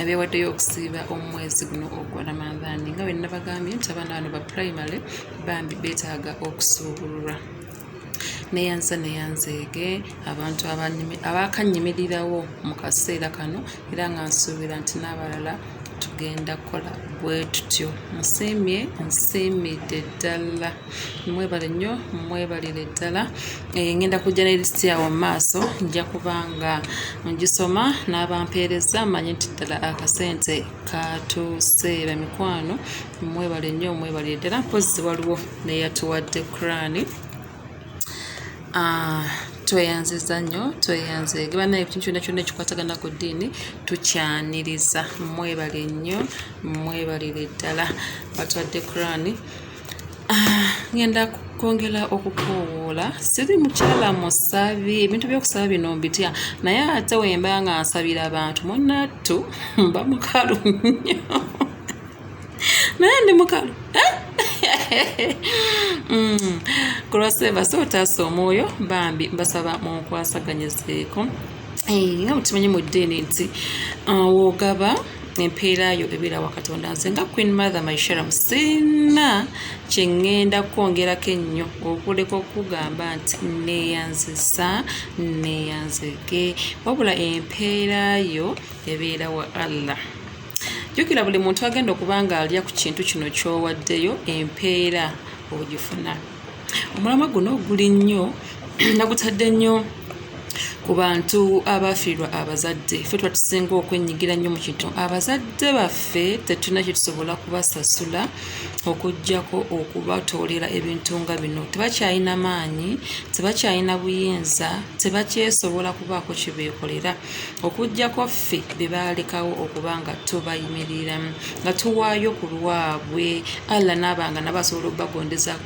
abeewaddeyo okusiiba omwezi guno ogwa ramadhani nga wenna bagambye nti abaana bano ba primary bambi beetaaga okusuubululwa neyanza neyanzeege abantu abakannyimirirawo mu kaseera kano era nga nsuubira nti n'abalala tugenda kukola bwe tutyo nsiimye nsiimidde ddala mwebale nnyo mwebalire ddala eh, ngenda kujja ne lisiti awo mu maaso nja kuba nga ngisoma n'abampeereza manye nti ddala akasente katuuse bamikwano mwebale nnyo mwebalire ddala mpozi waliwo neyatuwadde kurani ah, tweyanziza nnyo tweyanze geba naye ekintu kyonna kyonna ekikwatagana ku ddiini tukyaniriza mwebale nnyo mwebalire ddala batwadde kurani ngenda kwongera okukoowoola siri mukyala musabi ebintu byokusaba bino mbitya naye ate wemba nga nsabira abantu munattu mba mukalu nnyo naye ndi mukalu eh? kulwaseba mm. so otaasa omwoyo bambi mbasaba munkwasaganyizeeko eh, nga mukimanyi mu ddiini nti uh, wogaba empeera yo ebeera wa katonda nze nga queen mother mysharam sirina kyeŋŋenda kwongerako ennyo okuleka okugamba nti neeyanzisa neeyanzege wabula empeera yo ebeera wa allah jjukira buli muntu agenda okuba nga alya ku kintu kino kyowaddeyo empeera ogifuna omulamwa guno guli nnyo nagutadde nnyo ku bantu abaafiirwa abazadde fe tuba tusinga okwenyigira nnyo mu kintu abazadde baffe tetulina kye tusobola kubasasula okugyako okubatoolera ebintu nga bino tebakyalina maanyi tebakyalina buyinza tebakyesobola kubaako kye beekolera okugyako ffe be baalekawo okuba nga tubayimiriramu nga tuwaayo ku lwabwe allah naabanga nabo asobola okubagondeza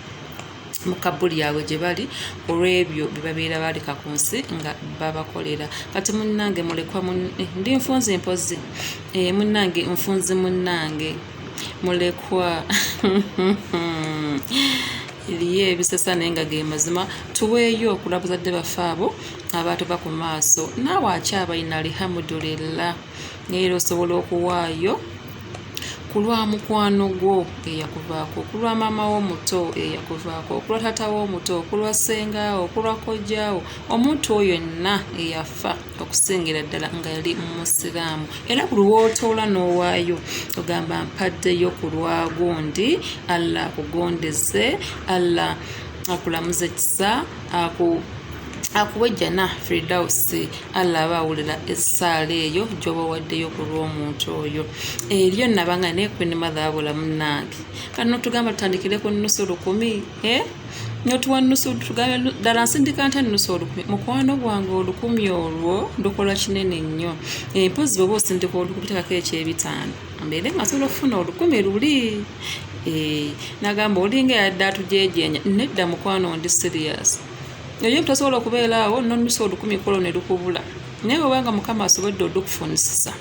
mu kabbuli yaabwe gye bali olw'ebyo bye babeera baaleka ku nsi nga babakolera kati munnange mulekwa eh, ndi nfunzi mpozi eh, munnange nfunzi munnange mulekwa eriyo ebisesa naye nga ge mazima tuweeyo okula buzadde baffe abo abaatuva ku maaso naawe akyabalina alihamudulillah era osobola okuwaayo ku lwa mukwano gwo eyakuvaako ku lwa maama wo omuto eyakuvaako ku lwa taata wo omuto ku lwa ssengaawo ku lwa kojjaawo omuntu oyo yenna eyafa okusingira ddala nga yali musiraamu era buli wootoola n'owaayo ogamba mpaddeyo ku lwagundi allah akugondeze allah akulamuze kisa aku akuwa ejjana fridausi allah aba awulira essaala eyo gyoba waddeyo ku lw'omuntu oyo eryo naba nga naye kwini madhaabula munange kati notugamba tutandikire ku nusu lukumi e eh? notuwa nusu tugambe ddala nsindika nti nusu olukumi mukwano gwange olukumi olwo ndukola kinene nnyo empozi eh, bwoba osindika olukumi tekako ekyebitaano mbeere nga sobola okufuna olukumi luli Eh, nagamba olinga yadde atujejenya nedda mukwano ndi serious eyo tosobola okubeera awo nonusa olukumi kolo ne lukubula naye obanga mukama asobodde odukufunisisa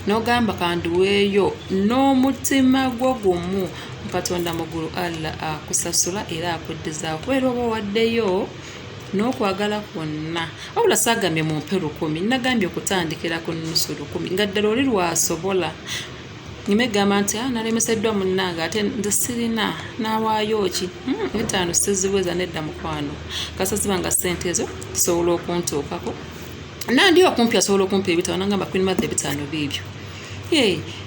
nogamba kandiweeyo n'omutima gwo gumu katonda mugulu allah akusasula era akuddizaawo kubeera oba owaddeyo n'okwagala kwonna wabula saagambye mumpe lukumi nagambye okutandikira ku nusu lukumi nga ddala oli lwasobola nyuma egamba nti ah, nalemeseddwa munnange ate nze sirina nawaayo ki hmm, etaano siziweza nedda mukwano kasaziba nga ssente ezo zisobola okuntuukako nandi okumpi asobola okumpi ebitabo nangamba queen mother ebitaano biibyo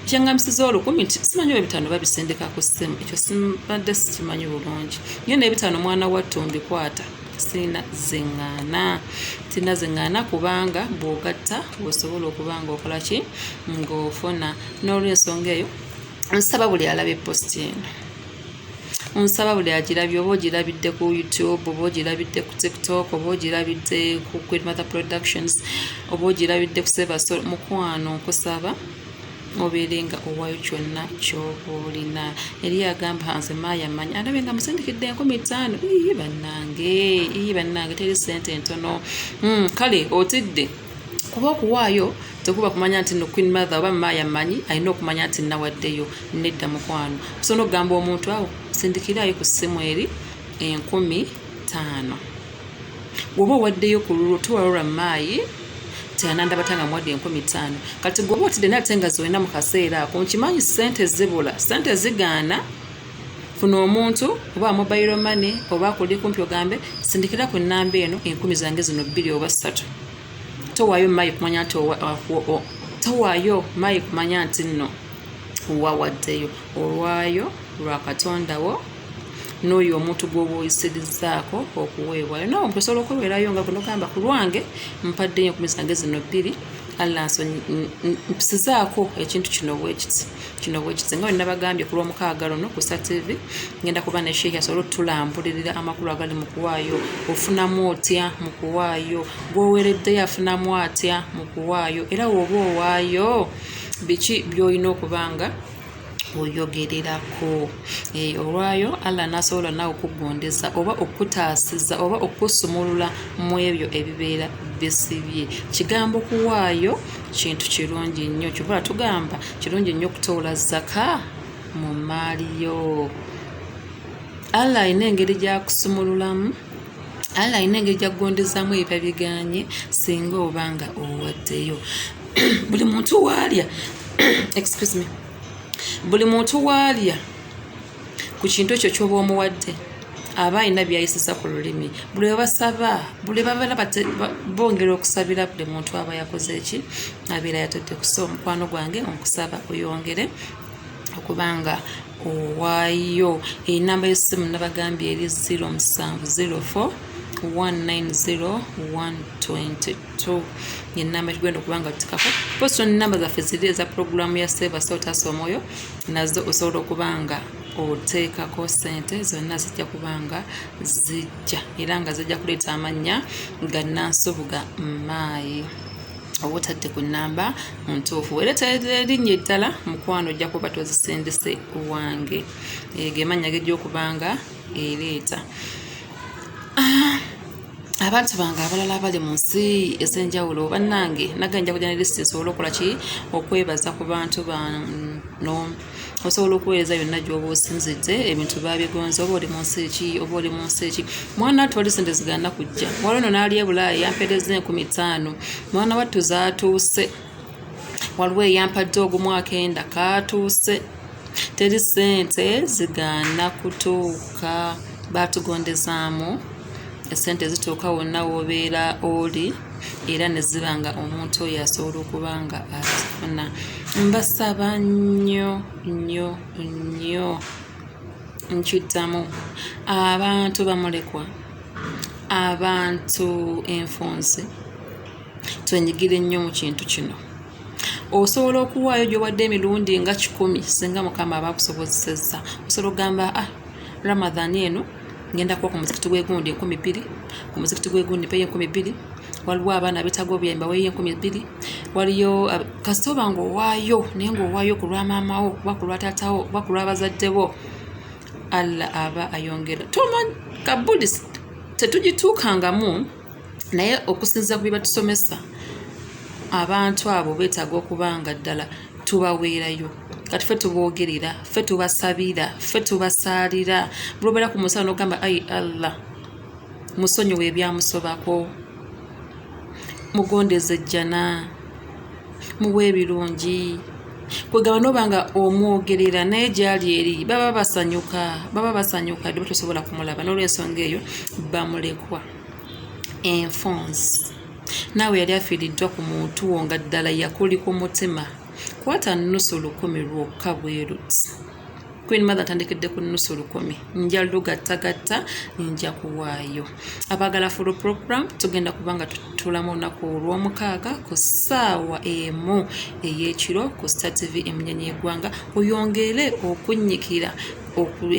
kyangambisiza olukumi nti simanyi ebitaano babisindika ku ssimu ekyo simbadde sikimanyi bulungi nyo n'ebitaano omwana wattu mbikwata sirina zeŋŋaana sirina zeŋŋaana kubanga bw'ogatta osobola okuba ng'okola ki ng'ofuna n'olwensonga eyo nsaba buli alaba eposti eno nsaba buli agirabye oba ogirabidde ku youtube oba ogirabidde ku tiktok oba ogirabidde ku queen mother productions oba ogirabidde ku sebasol mukwano nkusaba obeere nga owayo kyonna kyoba olina eri agamba nze maayamanyi alabe nga musindikidde enkumi ttaano ii bannange ii bannange teri ssente entono hmm, kale otidde kuba okuwaayo tekuba kumanya nti no queen mother oba maya manyi alina okumanya nti nawaddeyo nedda mukwano kusobola okugamba omuntu awo sindikiraayo ku ssimu eri enkumi taano woba owaddeyo ku lulwo tewalora maayi teyanandabata nga muwadde enkumi ttaano kati gwoba otidde naye ate nga zolina mu kaseera ako nkimanyi sente zibula sente zigaana funa omuntu oba mobile money oba kuli kumpi ogambe sindikira ku nnamba eno enkumi zange zino bbiri oba ssatu towaayo maayi kumanya nti towaayo maayi kumanya nti nno wawaddeyo olwayo lwa katondawo n'oyo omuntu gw'oba oyisirizzaako okuweebwayo nawe omuntu osobola okweweerayo nga gwe nogamba ku lwange mpaddeyo enkumi zange zino bbiri allah nsonyizaako ekintu kino bwekiti kino bwekiti nga wenabagambye ku lwomukaaga luno ku satv ngenda kuba ne sheikh asobole otulambulirira amakulu agali mu kuwaayo ofunamu otya mu kuwaayo gwowereddeyo afunamu atya mu kuwaayo era woba owaayo biki byolina okubanga oyogererako eh, olwayo allah nasobola nawe okugondeza oba okutaasiza oba okusumulula mu ebyo ebibeera bisibye kigambo kuwaayo kintu kirungi nnyo kyobola tugamba kirungi nnyo okutoola zaka mu mmaali yo allah alina engeri gyakusumululamu allah alina engeri gyakugondezaamu ebiba biganye singa oba nga owaddeyo buli muntu waalya excuse me buli muntu waalya ku kintu ekyo kyoba omuwadde aba alina byayisisa ku lulimi buli webasaba buli babeera bongera okusabira buli muntu aba yakoze eki abeera yatadde kusa omukwano gwange okusaba oyongere okuba nga owaayo enamba yosimu nabagambye eri 0704 190 122 so ngenamba kigenda okuba nga tutikako poso namba zaffe ziri eza pulogulaamu ya seva sotaasa omwoyo nazo osobola okuba nga oteekako sente zonna zijja kuba nga zijja era nga zijja kuleeta amannya ga nansubuga maayi oba otadde ku namba ntuufu era terinnye eddala mukwano ojja kuba tozisendese wange egemannya gejja okubanga ereeta ah, abantu bange abalala abali mu nsi ez'enjawulo bannange nage nja kujja ne lisiti nsobole okukola ki okwebaza ku bantu bano osobola okuweereza yonna gyoba osinzidde ebintu babigonza oba oli mu nsi ki oba oli mu nsi ki mwana wattu wali sente zigana kujja wali ono n'ali ebulaaya yampeereza enkumi ttaano mwana wattu zaatuuse waliwo eyampadde ogumu akenda kaatuuse teri ssente zigaana kutuuka baatugondezaamu esente zituuka wonna woobeera oli era ne ziba nga omuntu oyo asobola okuba nga azifuna mbasaba nnyo nnyo nnyo nkiddamu abantu bamulekwa abantu enfunzi twenyigire nnyo mu kintu kino osobola okuwaayo gyowadde emirundi nga kikumi singa mukama aba akusobozesezza osobola okugamba a ah, ramadhan eno ngenda kuba ku muzikiti gwegundi enkumi bbiri ku muzikiti gwegundi peyo enkumi bbiri waliwo abaana betaga obuyambi baweyo enkumi bbiri waliyo kasita oba nga owaayo naye nga owaayo ku lwa maamawo oba ku lwa taatawo oba ku lwa bazadde bo allah aba ayongera toman kabudis tetugituukangamu naye okusinziira ku bye batusomesa abantu abo beetaaga okuba nga ddala tubaweerayo kati fe tuboogerera fe tubasabira fe tubasaalira bulwobeera ku musala nogamba ai allah musonyiwa ebyamusobako mugondeza ejjana muwa ebirungi kwegamba noba nga omwogerera naye gyali eri baba basanyuka baba basanyuka dde batosobola kumulaba nolwensonga eyo bamulekwa enfonsi naawe yali afiiriddwa ku muntu wo nga ddala yakuli ku mutima kwata nusu lukumi lwokka bweruti queen mother atandikedde ku nusu lukumi nja lugattagatta nja kuwaayo abagala full program tugenda kuba nga tutulamu olunaku olw'omukaaga ku ssaawa emu ey'ekiro ku star tv emunyenye egwanga oyongere okunnyikira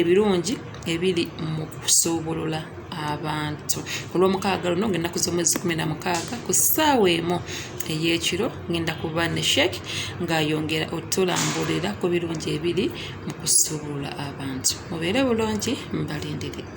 ebirungi ebiri mu kusuubulula abantu olw'omukaaga luno ngaennaku z'omwezi kumi na mukaaga ku ssaawa emu ey'ekiro ngenda kuba ne sheik ng'ayongera otulambulira ku birungi ebiri mu kusuubula abantu mubeere bulungi mbalindire